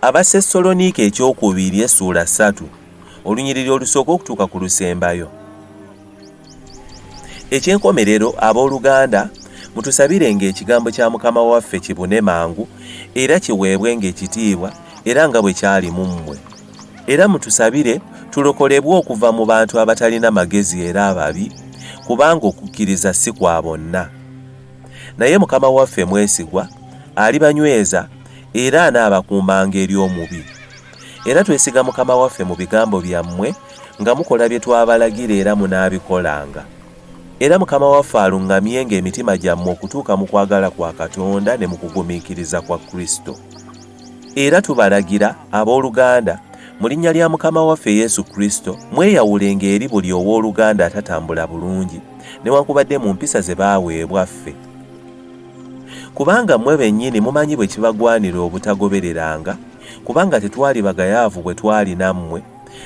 Abasessaloniika ekyokubiri essuula ssatu olunyiriri olusooka okutuuka ku lusembayo. Eky'enkomerero, ab'oluganda, mutusabire nga ekigambo kya Mukama waffe kibune mangu era kiweebwe nga ekitiibwa era nga bwe kyali mu mmwe. Era mutusabire tulokolebwe okuva mu bantu abatalina magezi era ababi, kubanga okukkiriza si kwa bonna. naye mukama waffe mwesigwa alibanyweza era anaabakuumanga eri omubi era twesiga mukama waffe mu bigambo byammwe nga mukola bye twabalagira era munaabikolanga era mukama waffe aluŋŋamyenga emitima gyammwe okutuuka mu kwagala kwa katonda ne mu kugumiikiriza kwa kristo Era tubalagira, ab'oluganda, mu linnya lya Mukama waffe Yesu Kristo, mweyawulenga eri buli ow'oluganda atatambula bulungi, newankubadde mu mpisa ze baaweebwa ffe. Kubanga mmwe bennyini mumanyi bwe kibagwanira obutagobereranga, kubanga tetwali bagayaavu bwe twali nammwe,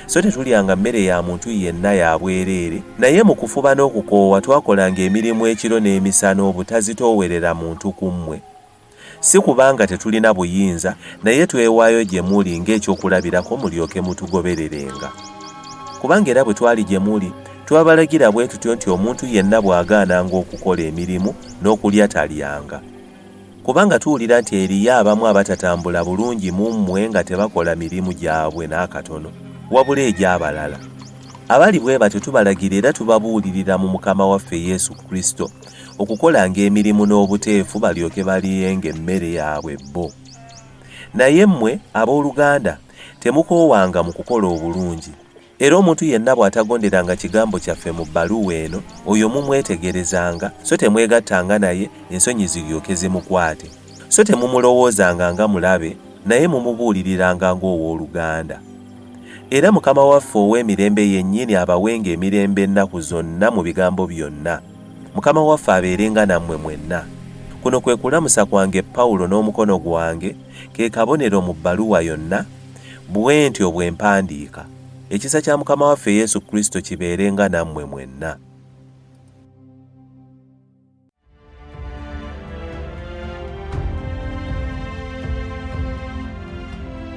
so tetulyanga mmere ya muntu yenna ya bwereere, naye mu kufuba n'okukoowa twakolanga emirimu ekiro n'emisana obutazitoowerera muntu ku mmwe. Si kubanga tetulina buyinza, naye twewaayo gye muli ng'ekyokulabirako mulyoke mutugobererenga. Kubanga era bwe twali gye muli, twabalagira bwe tutyo nti omuntu yenna bw'agaananga okukola emirimu, n'okulya talyanga. Kubanga tuwulira nti eriyo abamu abatatambula bulungi mu mmwe nga tebakola mirimu gyabwe n'akatono, wabula egy'abalala. Abali bwe batyo tubalagira era tubabuulirira mu Mukama waffe Yesu Kristo, okukolanga emirimu n'obuteefu balyoke baliyenga emmere yaabwe bo naye mmwe ab'oluganda temukoowanga mu kukola obulungi era omuntu yenna bw'atagonderanga kigambo kyaffe mu bbaluwa eno oyo mumwetegerezanga so temwegattanga naye ensonyi ziryoke zimukwate so temumulowoozanga nga mulabe naye mumubuuliriranga ng'ow'oluganda era mukama waffe ow'emirembe yennyini abawenga emirembe ennaku zonna mu bigambo byonna Mukama waffe abeerenga nammwe mwenna. Kuno kwe kulamusa kwange Pawulo n'omukono gwange, ke kabonero mu bbaluwa yonna, bwe ntyo bwe mpandiika. Ekisa kya Mukama waffe Yesu Kristo kibeerenga nammwe mwenna.